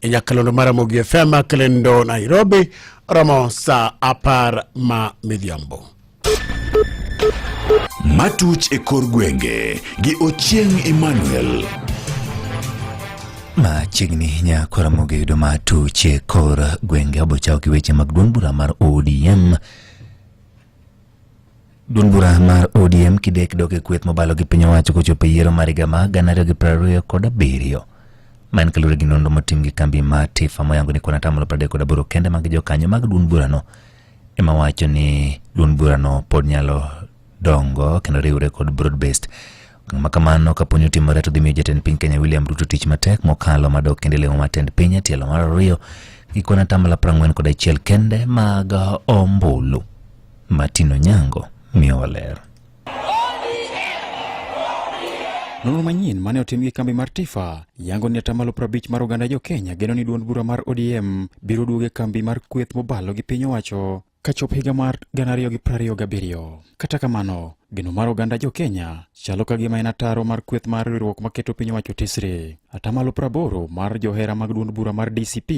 e nyakalondo mar Ramogi FM Kalendo Nairobi romo saa apar ma midhiambo. Matuch e kor gwenge gi Ochieng' Emmanuel. Machiegni nyako Ramogi yudo matuch e kor gwenge obochawo gi weche mag duond bura mar ODM Duond bura mar ODM kidek dok e kweth mobalo gi piny owacho kochopo e yiero mar higa ma gana ariyo gi piero ariyo kod abiriyo ma en kaluwore gi nonro motim gi kambi ma Tifa moyango ni kuon atamalo piero adek kod aboro kende mag jokanyo mag duond burano ema wacho ni duond burano pod nyalo dongo kendo riwre kod broad based Ang'o kamano kaponi otimore to dhi miyo jatend piny Kenya William Ruto tich matek mokalo madok kendo lemo mar tend piny e tielo mar ariyo gi kwan atamalo prang'wen kod achiel kende mag ombulu. Martin Onyango miyo waler. Nonro manyien mane otim gi kambi mar Tifa yango ni atamalo prabich mar oganda jo Kenya geno ni duond bura mar ODM biro duoge kambi mar kweth mobalo gi piny owacho kachop higa mar 2027. Kata kamano, geno mar oganda jo Kenya chalo ka gima en ataro mar kweth mar riwruok maketo piny owacho tesre. Atamalo praboro mar johera mag duond bura mar DCP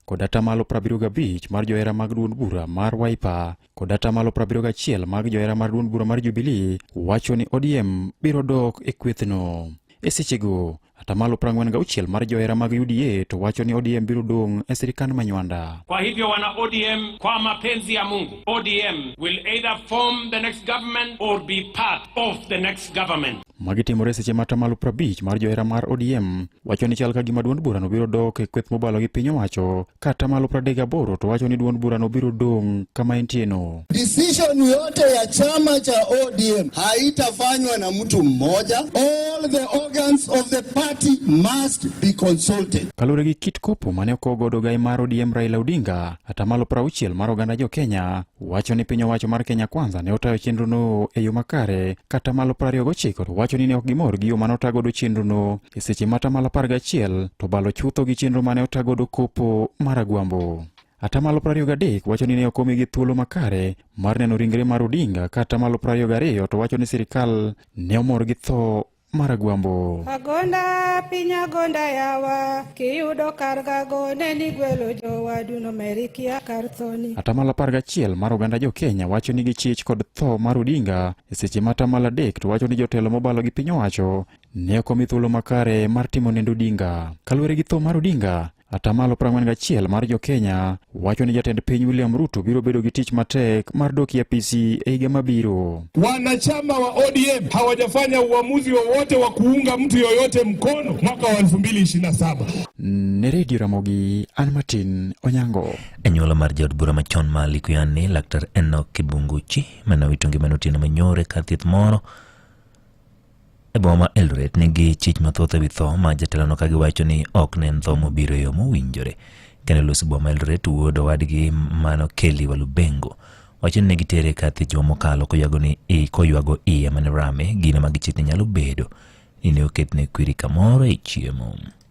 kod atamalo prabiriyo gabich mar johera mag duond bura mar Wiper kod atamalo prabiriyo gachiel mag johera mar duond bura mar Jubilee wacho ni ODM biro dok e kwethno. E sechego, Atamalo 46 mar johera mag UDA to wacho ni ODM biro dong' e sirikand manywanda. Kwa hivyo wana ODM, kwa mapenzi ya Mungu, ODM will either form the next government or be part of the next government. Magi timore seche ma atamalo 50 mar johera mar ODM wacho ni chal ka gima duond burano biro dok e kweth mobalo gi piny owacho kata malo 38 to wacho ni duond burano biro dong' kama entieno. Decision yote ya chama cha ODM haitafanywa na mtu mmoja. All the organs of the party must be consulted. Kaluwore gi kit kopo mane okogodo gai mar ODM Raila Odinga, atamalo 60 mar oganda jo Kenya wacho ni piny owacho mar Kenya Kwanza ne otayo chenrono e yo makare kata malo 29 to wacho ni ne ok gimor gi yo mane otagodo chenrono e seche ma atamalo 11 to balo chutho gi chenro mane otagodo kopo mar Agwambo. Atamalo 23 wacho ni ne ok omigi thuolo makare mar neno ringre mar Odinga ka atamalo 22 to wacho ni sirikal ne omor gi tho Maragwambo. Agonda piny agonda yawa kiyudo kar gago ne ni gwelo jowadu nomerikia kar thoni. Atamalo apar gachiel mar oganda jo Kenya wacho ni gichich kod tho mar Odinga e seche ma atamalo adek to wacho ni jotelo mobalo gi piny owacho ne ok omi thuolo makare mar timo nendo Odinga. Kaluwore gi tho mar Odinga, Atamalo 41 mar jo-Kenya wacho ni jatend piny William Ruto biro bedo gi tich matek mar dok e apisi e higa mabiro. Wanachama wa ODM hawajafanya uamuzi wowote wa, wa kuunga mtu yoyote mkono mwaka wa 2027. Ne Redio Ramogi, an Martin Onyango. Anyuola mar jaod bura machon ma Likuyani, Laktar Enoch Kibunguchi, mane owito ngimane otieno manyore kar thieth moro E boma ma Eldoret nigi chich mathoth ewi tho ma jatelono ka giwacho ni ok ne en tho mobiro e yo mowinjore. Kane olus boma Eldoret wuod owadgi mano Kelly Walubengo wacho ni ne gitere kathi juma mokalo koywago ni i koywago iye mane rame gino ma gichit ni nyalo bedo ni ne oketne kwiri kamoro e chiemo.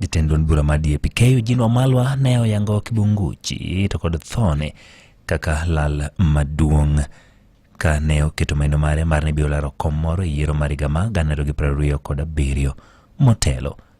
Jatend duond bura ma DAP keyo Eugene Wamalwa ne oyango Kibunguchi to kod thone kaka lal maduong' ka ne oketo maino mare mar ni biro laro kom moro e yiero mar higa ma gana ariyo gi piero ariyo kod abiriyo motelo.